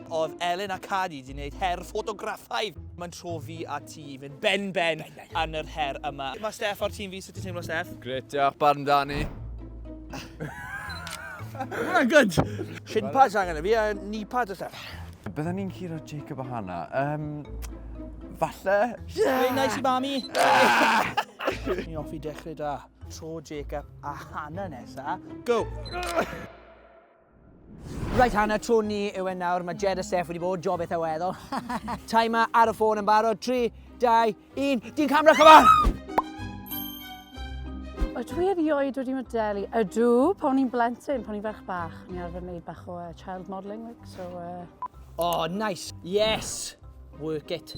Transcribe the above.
Oedd Elin a Cadi wedi gwneud her ffotograffaidd. Mae'n tro fi a ti i fynd ben ben yn yr her yma. Mae Steff o'r tîm fi, sut ti'n teimlo Steff? Gret, diolch, barn Dani. Mae'n good! Shin pads angen i fi a knee pads a stuff. Byddwn ni'n curo Jacob o hana. Um, falle? Very nice i mami! Ni offi dechrau da. Tro Jacob a Hannah nesa. Go! Right Hannah, tro ni yw e nawr. Mae Jed a Steph wedi bod, job eitha weddol. Timer ar y ffôn yn barod. 3, 2, 1. Dyn camera, come on! Ydw i erioed wedi modelu? Ydw, pan i'n blentyn, pan i'n ferch bach, ni arfer wneud bach o uh, child modelling, like, so... Uh... Oh, nice! Yes! Work it!